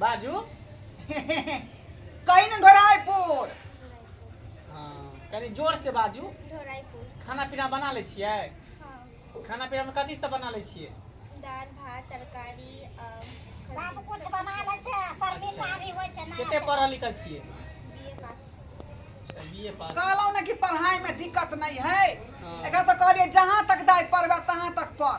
बाजू कहीं ने ढोराइपुर हाँ कनी जोर से बाजू ढोराइपुर खाना पीना बना ले छिए हाँ। खाना पीना में कथी सब बना ले छिए दाल भात तरकारी सब कुछ बना ले छे शर्मिंदा अच्छा। भी होय छे ना कते पढ़ल लिखल छिए बीए पास बीए अच्छा, पास कहलो ना कि पढ़ाई में दिक्कत नहीं है हाँ। एकरा से कहलिए जहां तक दाई पढ़बे तहां तक पढ़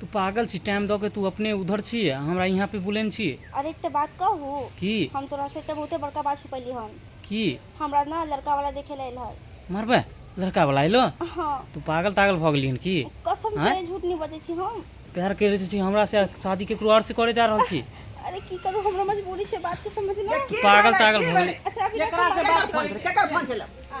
तू पागल छी टाइम दऽ के तू अपने उधर छी आ हमरा यहाँ पे बुलेन छी अरे एकटा बात कहू की हम तोरा से एकटा बहुते बड़का बात छुपैली हन की हमरा ना लड़का वाला देखे ले हल मरबे लड़का वाला एलो हाँ तू पागल तागल भऽ गेली हन की कसम आँय? से झूठ नहीं बजे छी हम प्यार करे छी हमरा से शादी केकरो और से करे जा रहल छी अरे की करू हमरा मजबूरी छै बात के समझना पागल तागल भऽ गेली अच्छा अभी केकरा से बात करै छै केकर फोन छलै आ,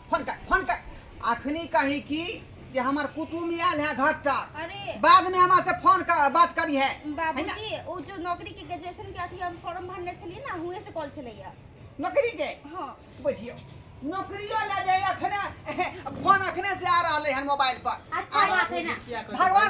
फोन कर फोन कर अखनी कही की कि हमर कुटुम आयल है घर तक अरे बाद में हमरा से फोन कर बात करी है है ना? बाबूजी ओ जो नौकरी के ग्रेजुएशन के अथी हम फॉर्म भरने छलिए ना हुए से कॉल छलैया नौकरी के हाँ बुझियो नौकरियो ले जाए अखने फोन अखने से आ रहले हन मोबाइल पर अच्छा बात है ना भगवान